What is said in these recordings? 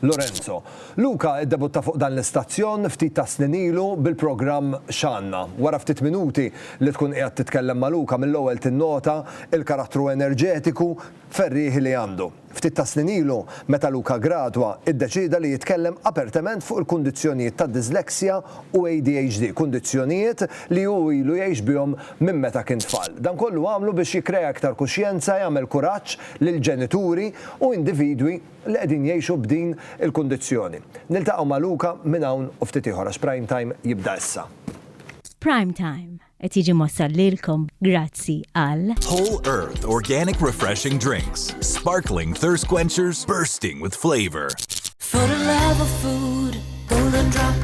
Lorenzo. Luca iddebutta fuq dan l-istazzjon ftit tas-snin ilu bil-programm X'għandna. Wara ftit minuti li tkun qiegħed titkellem ma' Luca mill-ewwel tinnota l-karattru enerġetiku, ferrieħi li għandu. Ftit tas-snin ilu, meta Luca ggradwa, iddeċieda li jitkellem apertement fuq il-kundizzjonijiet tad-dyslexia u ADHD, kundizzjonijiet li hu ilu jgħix bihom minn meta kien tfal. Dan kollu għamlu biex jikkrea iktar kuxjenza, jagħmel kuraġġ lil ġenituri u individwi, li qegħdin jgħixu b'din il-kundizzjoni. Niltaqgħu ma' Luca minn hawn u ftit ieħor għax Prime Time jibda issa. Prime Time qed jiġi mwassal lilkom grazzi għal. Whole Earth Organic Refreshing Drinks, Sparkling Thirst Quenchers Bursting with Flavor. For the love of food, Golden Drop.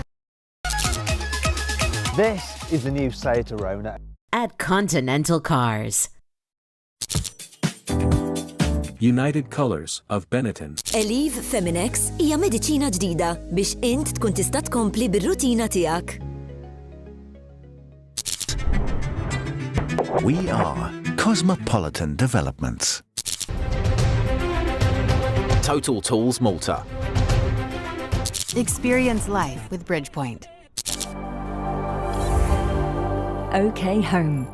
This is the new Seat Arona. At Continental Cars. United Colors of Benetton. Eliv Feminex hija mediċina ġdida biex int tkun tista' tkompli bir-rutina tiegħek. We are Cosmopolitan Developments. Total Tools Malta. Experience life with Bridgepoint. OK Home.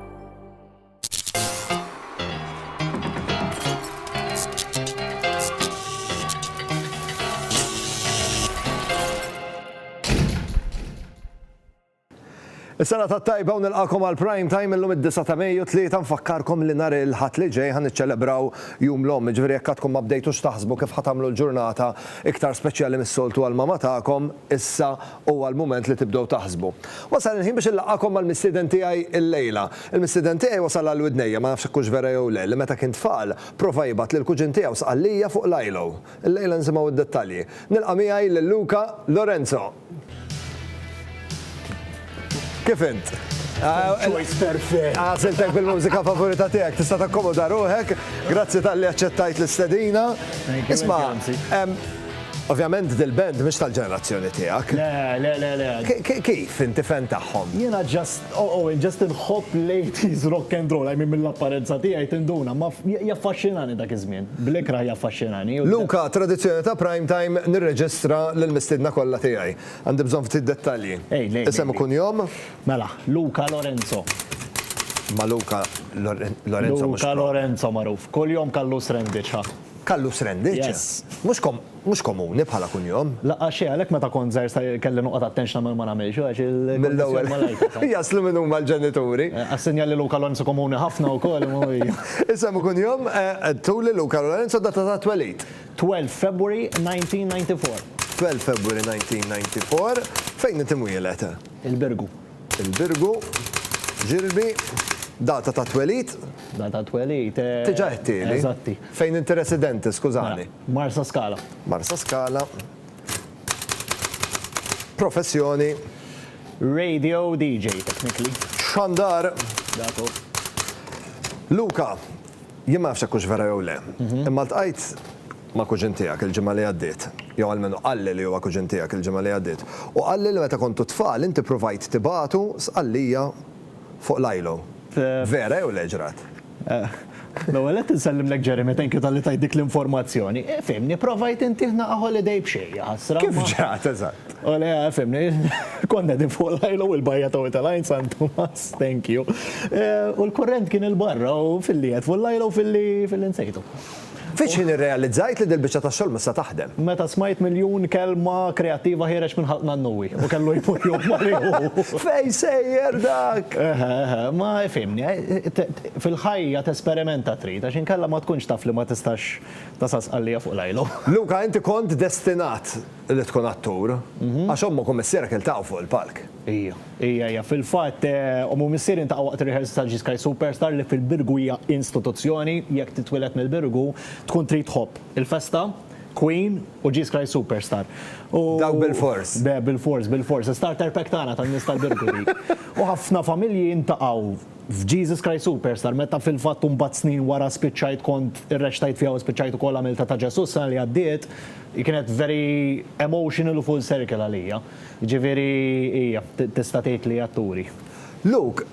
Is-sena ta' tajba u nilqakom għal prime time illum id-9 ta' Mejju tlieta nfakkarkom li nhar il-ħadd li ġej ħan niċċelebraw jum l-omm, ġifieri jekk għadkom ma bdejtux taħsbu kif ħatamlu l-ġurnata iktar speċjali mis-soltu għal mama tagħkom, Issa huwa l-mument li tibdew taħsbu. Wasal il-ħin biex inlaqgħakom mal-mistieden tiegħi illejla. Il-mistieden tiegħi wasal għal widnejja, ma nafx jekk hux vera jew le, li meta kien tfal, prova jibgħat lill-kuġin tiegħu Sqallija fuq l-ILO. Illejla nsimgħu d-dettalji. Nilqa' miegħi lil Luca Lorenzo! Kif int? Choice perfect. Għasiltek bil-mużika favorita tiegħek, tista' takkomoda ruħek, grazzi tal-li aċċettajt l-istedina. Isma, Ovvjament dil-band mhux tal-ġenerazzjoni tiegħek. Le, le, le, le. Kif inti fen tagħhom? Jiena ġast, oh, oh, ġast inħobb ladies rock and roll, għajmi mill-apparenza tiegħi tinduna, ma jaffaxxinani dak iż-żmien. Blekra jaffaxxinani. Luka, tradizzjoni ta' prime time nirreġistra lill-mistidna kollha tiegħi. Għandi bżonn ftit dettalji. Ej, lej. Isem u kunjom? Mela, Luca Lorenzo. Ma Luca Lorenzo mhux. Luca Lorenzo magħruf. Kuljom Callus Rendic, ha. Callus Rendic? Yes. Mhux komuni bħala kunjom. Laqgħa xejn, għalhekk meta kont żgħir sa kelli noqgħod attent x'nagħmel u ma nagħmilx, għax il-kundizzjoni ma lajtha. Jaslu min huma l-ġenituri. Assenja li Luca Lorenzo komuni ħafna wkoll imma. Isem u kunjom? Għedtuli Luca Lorenzo, data tat-twelid? 12 February 1994. 12 February 1994. Fejn int imwieled? Il-Birgu. Il-Birgu. Ġilbi. Data ta' twelid? Data ta' twelid. Diġà għedtieli. Eżatti. Fejn inti residenti, skużani? Marsaskala. Marsaskala. Professjoni? Radio DJ technically. Xandar. Dak hu. Luka, Jien ma nafx jekk hux vera jew le, imma ltqajt ma' kuġin tiegħek il-ġimgħa li għaddiet, jew almenu qalli li huwa kuġin tiegħek il-ġimgħa li għaddiet, u qalli li meta kontu tfal inti ppruvajt tibagħtu Sqallija fuq l-ILO. Vera jew le ġrat? L-ewwel nett insellimlek Jeremy, thank you talli tajt dik l-informazzjoni. Fhimni, provajt intieh naqa' holiday b'xejn, jaħasra. Kif ġrat eżatt? O le, ah, fimni, konna din fuq l-ajlu u l-bajja taw tal-ajn San Tomas, thank you. Eh, u l-kurrent kien il-barra u fil-li għed fuq l-ajlu u fil-li fil-li nsejtu. Fiex ħin irrealizzajt li dil-bicċa ta' xol missa taħdem. Meta smajt miljun kelma kreativa ħireċ minn ħalqna n-nuwi u kellu jmur jom mariħu. Fej sejjer dak! Ma fimni, eh, fil-ħajja t-esperimenta trid, għax inkella ma tkunx taf li ma tistax tasas għallija fuq l-ajlu. Luka, inti kont destinat. li tkun attur, għax omm u kumissierek iltaqgħu fuq il-palk. Ija, ija, ija. Fil-fatt, omm u missieri ntaqgħu waqt ir-rehearsal ta' G Sky Superstar li fil-Birgu hija instituzzjoni, jekk titwieled mill-Birgu, tkun trid tħobb il-festa, Queen u G Sky Superstar. U. Dawk bil-fors. Be, bil-fors, bil-fors. Is-starter pack tagħna tan-nies tal-Birgu dik. U ħafna familji ntaqgħu. f'Jesus Christ Superstar, meta fil-fatt u mbagħad snin wara spiċċajt kont irrexxtajt fiha u spiċċajt ukoll għamiltha ta' Ġesù s-sena li għaddiet, hi kienet very emotional u full circle għalija. Jiġifieri hija, tista' tgħid li atturi. Luke,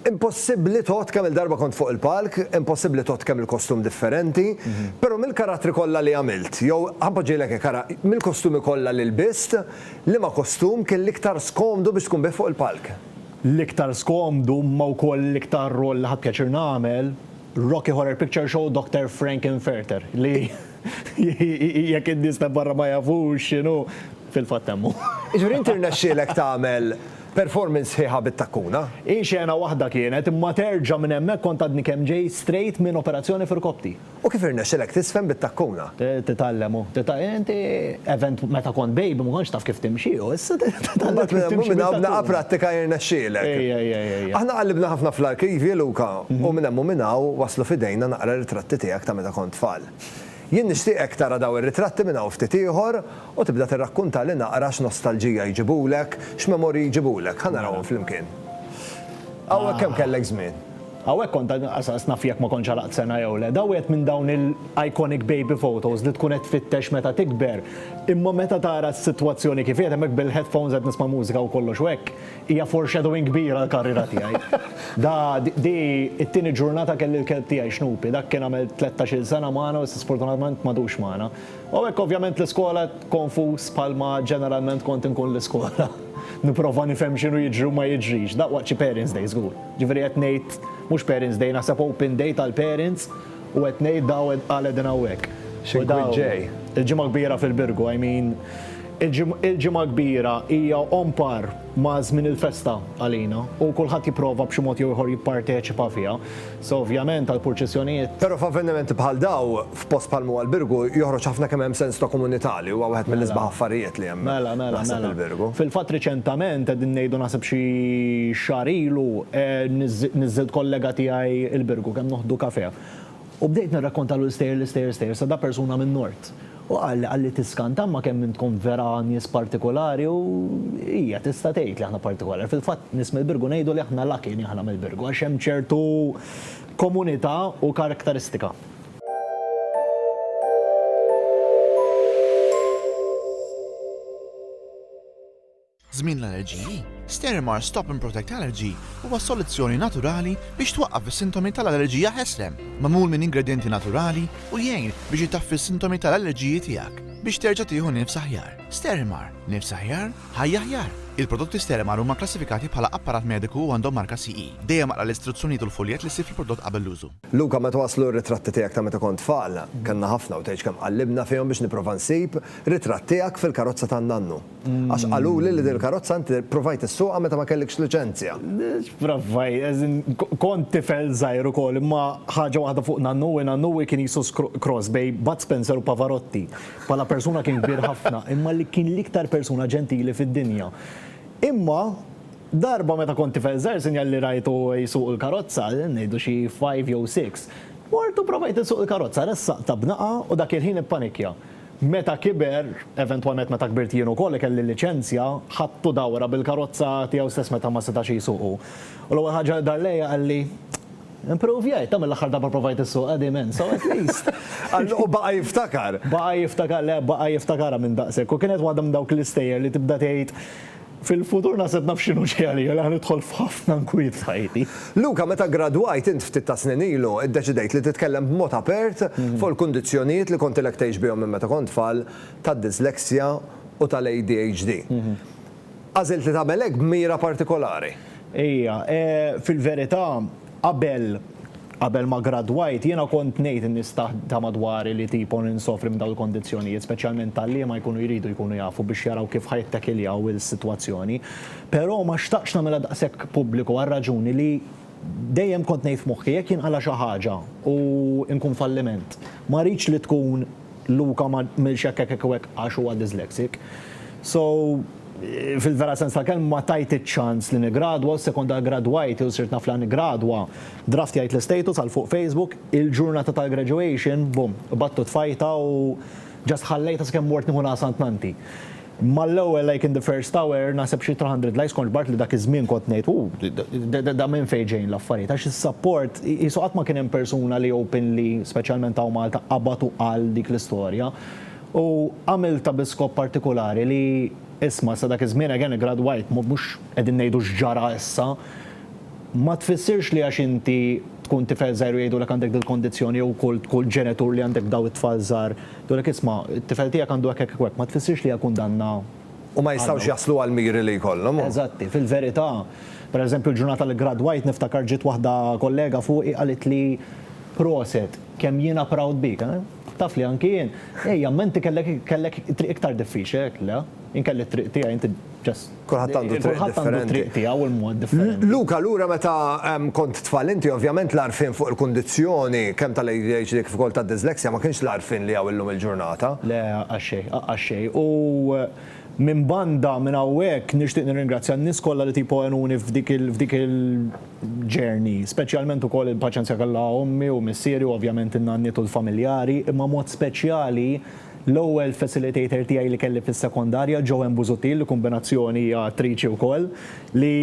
impossibbli tgħodd kemm-il darba kont fuq il-palk, impossibbli tgħodd kemm-il kostum differenti, però mill-karattri kollha li għamilt, jew ħa npoġġihlek hekk ara, mill-kostumi kollha li lbist, liema kostum kien l-iktar skomdu biex tkun bih fuq il-palk? L-iktar skomdu imma wkoll l-iktar rwol li ħadt pjaċir nagħmel, Rocky Horror Picture Show, Doctor Frank-N-Furter, li jekk in-nies ta' barra ma jafux x'inhu, fil-fatt hemm hu. Jiġifieri inti rnexxielek tagħmel performance sħiħa bit-takkuna? Hi xena waħda kienet, imma terġa' minn hemmhekk kont għadni kemm ġej strejt minn operazzjoni f'irkoppti. U kif irnexxilek tiżfen bit-takkuna? Titgħallem u titgħallem. Inti event meta kont baby ma kontx taf kif timxi u issa titgħallem kif timxi bit-takkuna. Minn hawn u minn hawn b'daqqa prattika jirnexxielek. Ejja, ejja, ejja, ejja. Aħna qallibna ħafna fl-arkivji, Luka, u minn hemm u minn hawn waslu f'idejna naqra ritratti tiegħek ta' meta kont tfal. Jien nixtieqek tara dawn ir-ritratti minn hawn ftit ieħor u tibda tirrakkuntali naqra x'nostalġija jġibulek, x'memorji jġibulek. Ħa narawhom flimkien. Hawn hekk kemm kellek żmien. Hawnhekk kont għas naf jekk ma kontx għalaqt sena jew le. Da wieħed minn dawn il-iconic baby photos li tkun qed tfittex meta tikber, imma meta tara s-sitwazzjoni kif qiegħed hemmhekk bil-headphones qed nisma' mużika u kollox u hekk, hija foreshadowing kbir għall-karriera tiegħi. Da di t-tieni ġurnata kelli l-kelb tiegħi Snoopy, dak kien għamel tlettax-il sena magħna u issa sfortunatament m'għadux magħna. U hawnhekk ovvjament l-iskola konfuż bħalma ġeneralment kont inkun l-iskola. Nipprova nifhem x'inhu jiġri u ma jiġrix, daqs waqt xi parents' day żgur. Ġifieri qed ngħid mhux Parents Day, naħseb Open Day tal-Parents u qed ngħid daw qal qegħdin hawnhekk. Xi nkwiet ġej. Il-Ġimgħa Kbira fil-Birgu, I mean il-Ġimgħa Kbira hija on par ma' żmien il-festa għalina u kulħadd jipprova b'xi mod jew ieħor jipparteċipa fiha. So ovvjament għall-purċissjonijiet. Però f'avvenimenti bħal daw, F'post bħal m'huwa l-Birgu joħroġ ħafna kemm hemm sens ta' komunità li huwa wieħed mill-isbaħ affarijiet li hemm naħseb il-Birgu. Fil-fatt riċentament, qegħdin ngħidu naħseb xi xahar ilu, niżżilt kollega tiegħi il-Birgu kemm noħdu kafè. U bdejt nirrakkontalu l-istejjer, l-istejjer, l-istejjer sa da persuna min-Nord. U qalli, qalli tiskanta imma kemm intkom vera nies partikulari u hija tista' tgħid li aħna partikolari. Fil-fatt nies mill-Birgu ngħidu li aħna lucky li aħna mill-Birgu għax hemm ċertu komunità u karktaristika. Żmien l-allerġiji, Sterimar Stop and Protect Allergy huwa soluzzjoni naturali biex twaqqaf is-sintomi tal-allerġija ħesrem. Magħmul minn ingredjenti naturali u jgħin biex itaffi s-sintomi tal-allerġiji tiegħek biex terġa' tieħu nifs aħjar. Sterimar, nifs aħjar, ħajja aħjar! Il-prodotti Sterimar huma kklassifikati bħala apparat mediku u għandhom marka CE. Dejjem aqra l-istruzzjonijiet u l-fuljett li ssib fil-prodott qabel l-użu. Luka, meta waslu r-ritratti tiegħek ta' meta kont tfal, kellna ħafna u tgħidx kemm qallibna fihom biex nipprova nsib ritratt tiegħek fil-karozza tan-nannu. Għax qaluli li din il-karozza inti ppruvajt issuqha meta ma kellikx liċenzja. X'provajt, as in kont tifel żgħir ukoll imma ħaġa waħda fuq nannu hi nannu hi kien qisu cross bejn Bud Spencer u Pavarotti. Bħala persuna kien kbir ħafna imma li kien l-iktar persuna ġentili fid-dinja. Imma, Darba meta kont tifel żgħir sinjal li rajtu jsuq il-karozza, ngħidu xi five jew six, mort u provajt insuq il-karozza, ressaqtha b'naqgħa u dak il-ħin ippanikkja. Meta kiber, eventwalment meta kbirt jien ukoll u kelli liċenzja, ħadtu dawra bil-karozza tiegħu stess meta ma setax jsuq hu. U l-ewwel ħaġa li dar lejja qalli, Impruvjajt, ta' mill-aħħar darba provajt issuq qegħdin hemm, so at least. U baqa' jiftakar. Baqa' jiftakar, le baqa' jiftakarha minn daqshekk. U kienet waħda minn dawk l-istejjer li tibda tgħid, Fil-futur naħseb naf x'inhu ġej għalija li ħa nidħol f'ħafna nkwiet f'ħajti. Luca, meta ggradwajt int ftit ta' snin ilu, iddeċidejt li titkellem b'mod apert fuq il-kundizzjonijiet li kontilek tgħix bihom minn meta kont tfal tad-dyslexia u tal-ADHD. Għażilt li tagħmel hekk b'mira partikolari. Ejja, fil-verità, Qabel, qabel ma gradwajt, jiena kont ngħid in-nies ta' ta' madwari li tipo ninsofri minn dawn il-kondizzjonijiet, speċjalment tgħalliema jkunu jridu jkunu jafu biex jaraw kif ħa jittakiljaw is-sitwazzjoni. Però ma xtaqtx nagħmilha daqshekk pubbliku għar-raġuni li dejjem kont ngħid f'moħħi jekk jinqala' xi ħaġa u nkun falliment, ma rridx li tkun Luka ma għmilx hekk hekk u hekk għax huwa dyslexic. So, fil-vera sens tal-kelma ma tajt iċ-ċans li niggradwa u sekonda ggradwajt jew sirt naf li niggradwa. Draft jgħid l-istatus għal fuq Facebook, il-ġurnata tal-graduation, bum, qbadt u tfajtha u just ħallejtha sakemm mort nieħu l-għasantnanti. Mal-ewwel like in the first hour naħseb xi 200 likes kontx b'art li dak iż-żmien kont ngħid hu da minn fejn ġejjin l-affarijiet għax is-sapport qisu qatt ma kien hemm persuna li openly speċjalment hawn Malta qabad u qal dik l-istorja u għamiltha bi skop partikulari li isma' sa dak iż-żmien again iggradwajt mhux qegħdin ngħidu x'ġara issa ma tfissirx li għax inti tkun tifel żgħir u jgħidulek għandek dil-kondizzjoni jew kull kull ġenitur li għandek daw it-tfal żgħar jgħidulek isma' t-tifel tiegħek għandu hekk hekk u hekk, ma tfissirx li hija kundanna. U ma jistgħux jaslu għall-miri li jkollhom u. Eżatti, fil-verità, pereżempju l-ġurnata li gradwajt niftakar ġiet waħda kollega fuqi qalitli proset, kemm jiena proud bik. Taf li anki jien, ejja, imma inti kellek kellek triq iktar diffiċli, għidtla, jien kelli t-triq tiegħi inti just. Kulħadd għandu triq differenti. Kulħadd għandu triq tiegħu u l-mod differenti. Luka, lura meta kont tfal inti, ovvjament l-għarfien fuq il-kundizzjoni kemm tal-ADHD kif ukoll tad-dyslexia ma kienx l-għarfien li hawn illum il-ġurnata. Le, għax xejn, għax xejn. U minn banda minn hawnhekk nixtieq nirringrazzja n-nies kollha li tipo għenuni f'dik il-journey, speċjalment ukoll il-paċenzja kellha ommi u missieri u ovvjament in-nanniet u l-familjari, imma mod speċjali L-ewwel facilitator tiegħi li kelli fis-sekondarja, Joanne Busuttil, li kumbinazzjoni hija attriċi wkoll, li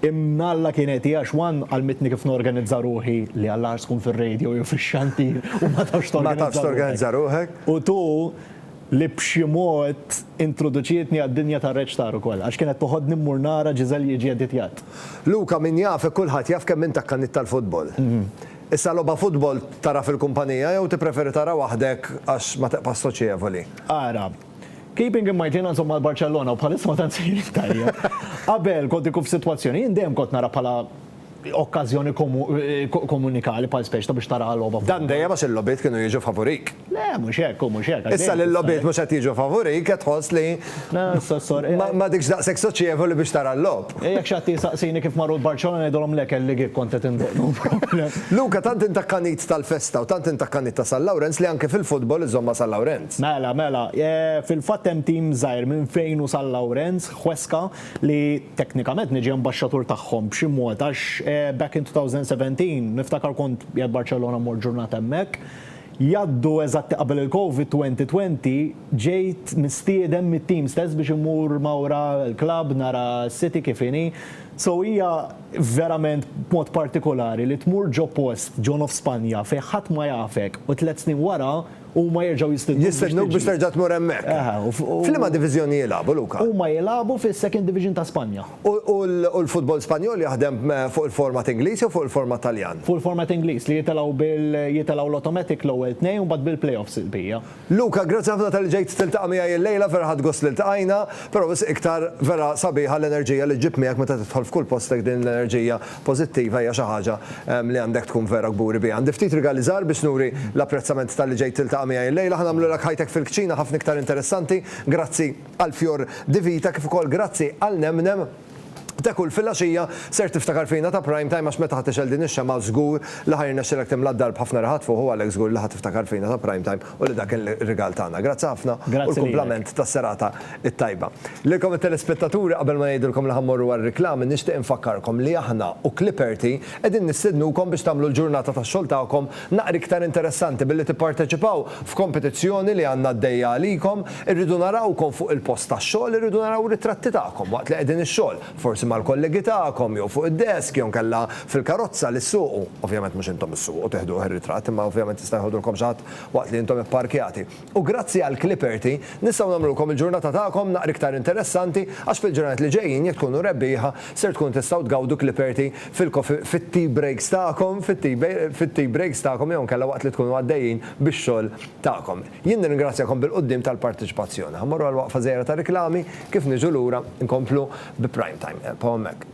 imn Alla kienet hi għax one għallmitni kif norganizza ruħi, li għal agħar tkun fir-radio jew fix-xantir u ma tafx torganizza ruħek, u two li b'xi mod introduċietni għad-dinja tar-reċtar ukoll, għax kienet toħodni mmur nara Giselle jiġi editjat. Luca, min jafek kulħadd jaf kemm int akkanit tal-futbol. Issa logħba futbol tara fil-kumpanija jew tippreferi tara waħdek għax ma teqpax soċjevoli? Ara, keeping in mind jiena nżomm mal-Barċellona u bħalissa ma tant sejrin tajjeb. Qabel kont inkun f'sitwazzjoni, jien dejjem kont nara bħala okkażjoni komunikali bħal speċta biex tara logħba futbol. Dan dejjem għax il-logħbiet kienu jiġu favurik. Le, mhux hekk, hu mhux hekk. għaddej Issa li tista' l-logħbiet hekk. mhux qed jiġu favorik qed tħoss li Le, Sossor, eh, ma- m'għadikx daqshekk soċjevoli biex tara l-logħob. eh, jekk xi ħadd jsaqsini kif marru l-Barċellona ngħidulhom le kelli gig kont qed indoqq, no problem. Luca, tant int akkanit tal-festa u tant int akkanit ta' San Lawrenz li anke fil-futbol iżżomm ma' San Lawrenz. Mela, mela, eh, fil-fatt hemm tim żgħir minn fejn hu San Lawrenz, Huesca, li teknikament niġi ambaxxatur tagħhom b'xi mod għax eh, back in 2017 niftakar kont qiegħed Barċellona mmur ġurnata hemmhekk, Jgħaddu eżatti qabel il-Covid 2020, ġejt mistieden mit-tim stess biex immur mawra l-klabb nara s-City kif inhi. So hija verament mod partikolari li tmur ġo post, ġo nofs Spanja, fejn ħadd ma jafek u tliet snin wara huma jerġgħu jistidnuk biex tiġi. Jistidnuk biex terġa' tmur hemmhekk. F'liema diviżjoni jilagħbu, Luca? Huma jilagħbu fis-Second Division ta' Spanja. U l-futbol Spanjol jaħdem fuq il-format Ingliż jew fuq il-format Taljan? Fuq il-format Ingliż li jitilgħu bil jitilgħu l-automatic l-ewwel tnejn u mbagħad bil-playoffs il-bqija. Luca, grazzi ħafna talli ġejt tiltaqa' miegħi illejla, vera ħadt gost li ltqajna, però wisq iktar vera sabiħa l-enerġija li ġġib miegħek meta tidħol f'kull post hekk din l-enerġija pożittiva hija xi ħaġa li għandek tkun vera kburi biha. Għandi ftit rigali żgħar biex nuri l-apprezzament talli ġejt tiltaqa' miegħi illejla, ħa nagħmlulek ħajtek fil-kċina ħafna iktar interessanti. Grazzi. għal fjor di vita kif ukoll grazzi għal nemnem te kull filgħaxija ser tiftakar fina ta' prime time għax meta ħa tixgħel din ix-xemgħa żgur li ħa jirnexxilek timla' d-dar b'ħafna riħat fuħ u għalhekk żgur li ħa tiftakar fina ta' prime time u li dak kien rigal tagħna. Grazzi ħafna u l-kumplament tas-serata t-tajba. Lilkom it-telespettaturi qabel ma ngħidilkom li ħa mmorru għar-riklami nixtieq infakkarkom li aħna u Clipperty qegħdin nistednukom biex tagħmlu l-ġurnata tax-xogħol tagħkom Naqra iktar interessanti billi tipparteċipaw f'kompetizzjoni li għandna għaddejja għalikom, irridu narawkom fuq il-post tax-xogħol, irridu naraw ritratti tagħkom waqt li qegħdin ix-xogħol, forsi mal-kollegi tagħkom jew fuq id-desk jew inkella fil-karozza li ssuqu, ovvjament mhux intom issuqu, tiħduh ir-ritratt imma ovvjament jista' jħodulkom xi ħadd waqt li intom ipparkjati. U grazzi għal Clipperty, nistgħu nagħmlulkom il-ġurnata tagħkom naqra iktar interessanti għax fil-ġranet li ġejjin jekk tkunu rebbieħa ser tkunu tistgħu tgawdu Clipperty fil-coffee fit-tea breaks tagħkom fit-tea fit-tea breaks tagħkom jew inkella waqt li tkunu għaddejjin bix-xogħol tagħkom. Jien nirringrazzjakom bil-quddiem tal-parteċipazzjoni. Ħa mmorru għal waqfa żgħira ta' riklami, kif niġu lura nkomplu bi Prime Time. Ebqgħu hemmhekk.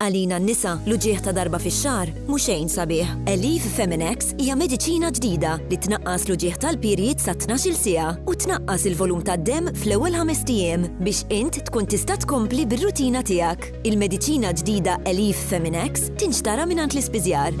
Għalina n-nisa, l-uġigħ ta' darba fix-xahar mhu xejn sabiħ. Aleve Feminex hija mediċina ġdida li tnaqqas l-uġigħ tal-period sa tnax-il siegħa u tnaqqas il-volum tad-demm fl-ewwel ħamest ijiem biex int tkun tista' tkompli bir-rutina tiegħek. Il-mediċina ġdida Aleve Feminex tinxtara mingħand l-ispiżjar.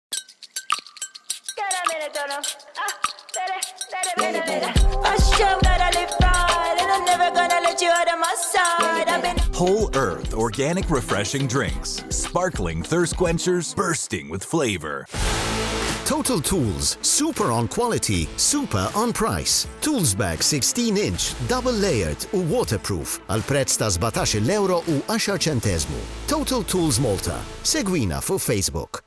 Whole Earth organic refreshing drinks, sparkling thirst quenchers bursting with flavor. Total Tools, super on quality, super on price. Tools bag 16 inch, double layered u waterproof għal prezz ta' 17 euro u 10 ċentezmu. Total Tools Malta. Segwina fuq Facebook.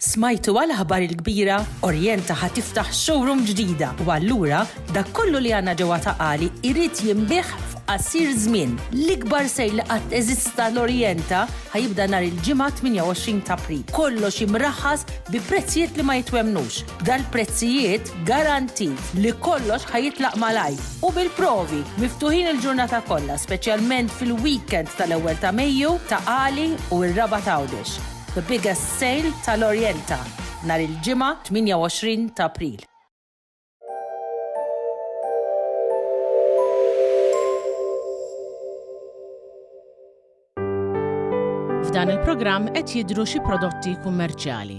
Smajtu għal aħbar il-kbira? Orienta ħa tiftaħ showroom ġdida u allura dak kollu li għandna ġewwa Ta' Qali jrid jinbiegħ f'qasir żmien. L-ikbar sale li qatt eżista l-Orienta ħa jibda nhar il-Ġimgħa 28 t'April. Kollox imraħħas bi prezzijiet li ma jitwemmnux. Dal-prezzijiet garantit li kollox ħa jitlaq malajr u bil-provi! Miftuħin il-ġurnata kollha speċjalment fil-weekend tal-ewwel ta' Mejju, Ta' Qali u r-Raba' t'Għawdex. The Biggest Sale tal-Orienta nhar il-Ġimgħa 28 ta' April. F'dan il-programm qed jidhru xi prodotti kummerċjali.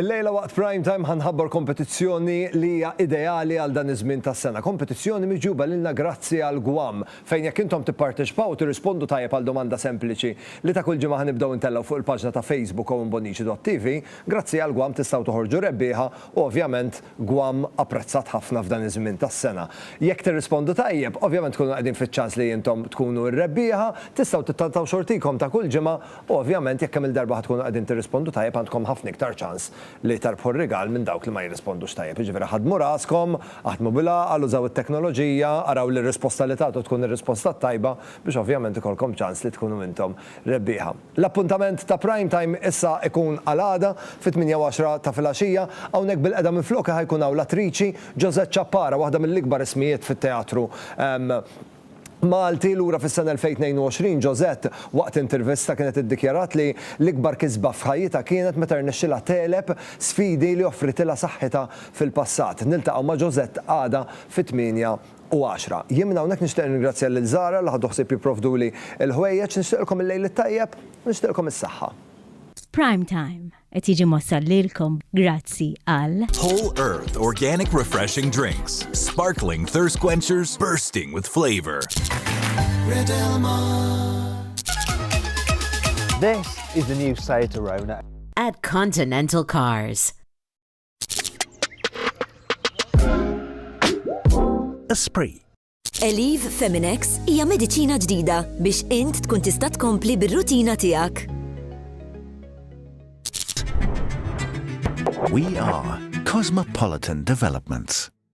Illejla waqt prime time ħanħabbar kompetizzjoni li hija ideali għal dan iż-żmien tas-sena. Kompetizzjoni miġuba lilna grazzi għal Gwam fejn jekk intom tipparteċipaw tirrispondu tajjeb għal domanda sempliċi li ta' kull ġimgħa ħanibdew intellgħu fuq il-paġna ta' Facebook Owen Bonnici.tv Grazzi għal Guam tistgħu toħorġu rebbieħa u ovvjament Guam apprezzat ħafna f'dan iż-żmien tas-sena. Jekk tirrispondu tajjeb, ovvjament tkunu qegħdin fiċ-ċans li intom tkunu r-rebbieħa, tistgħu tittantgħu xortikom ta' kull ġimgħa u ovvjament jekk kemm-il darba ħa tkunu qegħdin tirrispondu tajjeb għandkom ħafna iktar ċans li tarbħu r-rigal minn dawk li ma jirrispondux tajjeb. Jiġifieri ħaddmu raskom, aħdmu bil-għaqal, użaw it-teknoloġija, araw li r-risposta li tagħtu tkun ir-risposta t-tajba biex ovvjament ikollkom ċans li tkunu intom rebbieħa. L-appuntament ta' Prime Time issa ikun għal għada fit-tmienja u għaxra ta' filgħaxija. Hawnhekk bil-qeda minflokha ħa jkun hawn l-attriċi Josette Ciappara, waħda mill-ikbar ismijiet fit-teatru Malti. Lura fis-sena 2022, Josette, waqt intervista kienet iddikjarat li l-ikbar kisba f'ħajjitha kienet meta rnexxielha tegħleb sfidi li offritilha saħħitha fil-passat. Niltaqgħu ma' Josette għada fit-tmienja u għaxra. Jien minn hawnhekk nixtieq nirringrazzja lil Zara li ħadu ħsieb jipprovduli l-ħwejjeġ. Nixtieqilkom il-lejl it-tajjeb u nixtieqilkom is-saħħa. Prime Time qed jiġi mwassal lilkom grazzi għal. Whole Earth Organic Refreshing Drinks, Sparkling Thirst Quenchers Bursting with Flavor. This is the new Seat Arona. At Continental Cars. Esprit Eliv Feminex hija mediċina ġdida biex int tkun tista' tkompli bir-rutina tiegħek. We are Cosmopolitan Developments.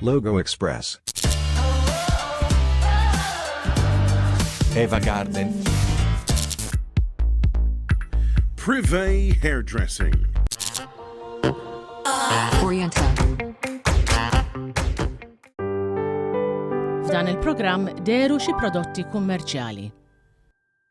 Logo Express. Eva Garden. Privé Hairdressing. F'dan il-programm deru xi prodotti kummerċjali.